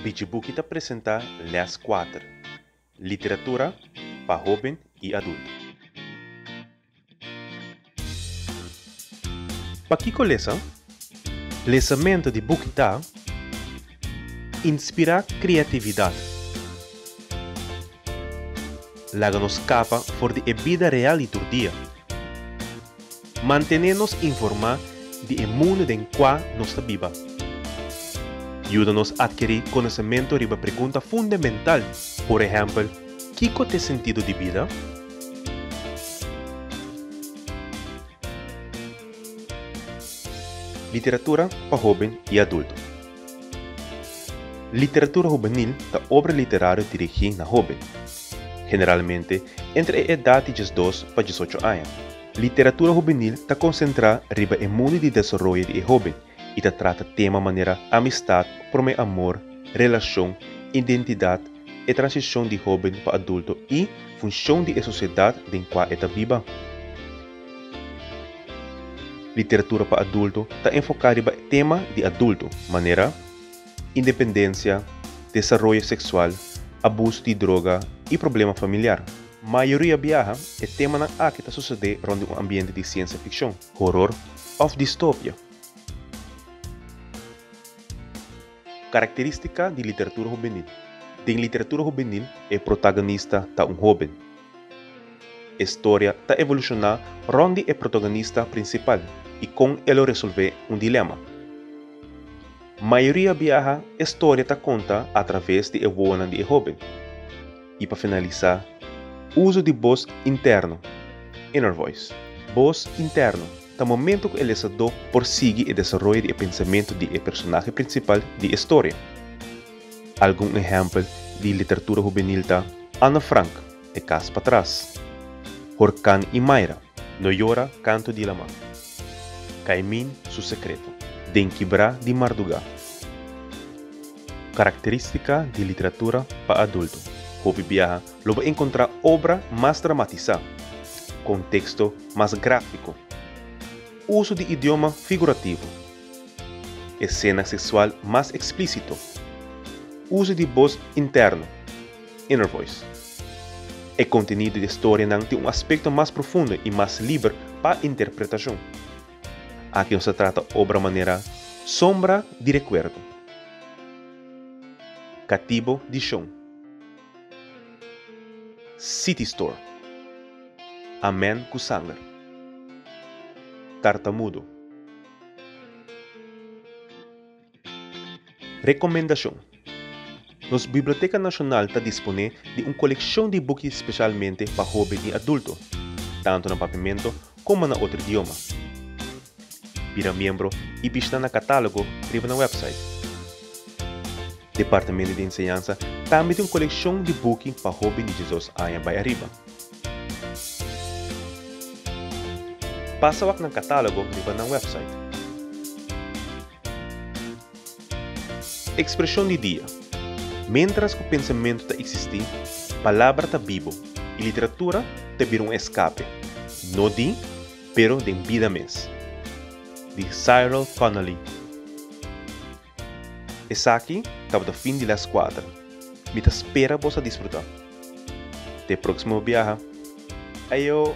Bijibuki ta presentá lès kuater, Literatura pa hóben i adultu. Pakiko lesa? Lesamentu di buki ta inspirá kreatividat, laga nos skapa for di e bida real di tur dia. Mantené nos informá di e mundu den kua nos ta biba. Yuda nos atkerí konosementu riba pregunta fundamental, por ehèmpel, Kiko t'e sentido di bida? Literatura pa hóben i adulto. Literatura hubenil ta obra literario dirigí na hóben, generalmente entre e edat di diesdos pa diesocho aña. Literatura hubenil ta konsentrá riba e mundu di desaroyo di e hóben i ta trata tema manera amistad, promé amor, relashon, identidat, e transishon di hóben pa adulto i funshon di e sosiedat den kua e ta biba. Literatura pa adulto ta enfoká riba e tema di adulto, manera, independensia, desaroyo seksual, abuso di droga i problema familiar. Mayoria biaha, e temanan aki ta susedé rònt di un ambiente di siensia fikshon, horor òf distopia. Karakterístika di literatura hobenil. Den literatura hobenil e protagonista ta un hóben. E storia ta evolushoná rònt di e protagonista prinsipal i kon el lo resolvé un dilema. Mayoria biaha e storia ta konta atraves di e wowonan di e hóben. I pa finalisá, uso di bos interno, inner voice. Bos interno ta momentu ku e lesadó por sigui e desaroyo di e pensamentu di e personahe prinsipal di e storia. Algun ehèmpel di literatura hubenil ta Anne Frank, E kas patras, Horkán i Mayra, No yora, Kantu di Lamá, Kaimín, Su sekreto, Den kibrá di mardugá. Karakterístika di literatura pa adulto. Hopi biaha lo bo enkontrá obra mas dramatisá, konteksto mas gráfiko, uso di idioma figurativo, esena seksual mas eksplísito, uso di bos interno, inner voice. E kontenido di e storianan tin un aspekto mas profundo i mas liber pa interpretashon. Aki nos ta trata obra manera sombra di rekuerdo, katibo di shon, City Store, Amén ku sanger, Tartamudo. Rekomendashon, Nos Biblioteka Nashonal ta disponé di un kolekshon di buki speshalmente pa hoben i adulto, tantu na Papiamento komo na otro idioma. Bira miembro i bishita na katálogo riba nan wèpsait. Departamento di Enseñansa tambe tin un kolekshon di buki pa hoben di diesdos aña bai ariba. Pasa wak nan katálogo riba nan wèpsait. Ekspreshon di dia, Miéntras ku pensamentu ta eksistí, palabra ta bibo i literatura ta bira un eskape, no di, pero den bida mes. Di Cyril Connolly. Esaki tabata fin di les kuater. Mi ta spera boso a disfruta. Te proksimo biaha. Ayo!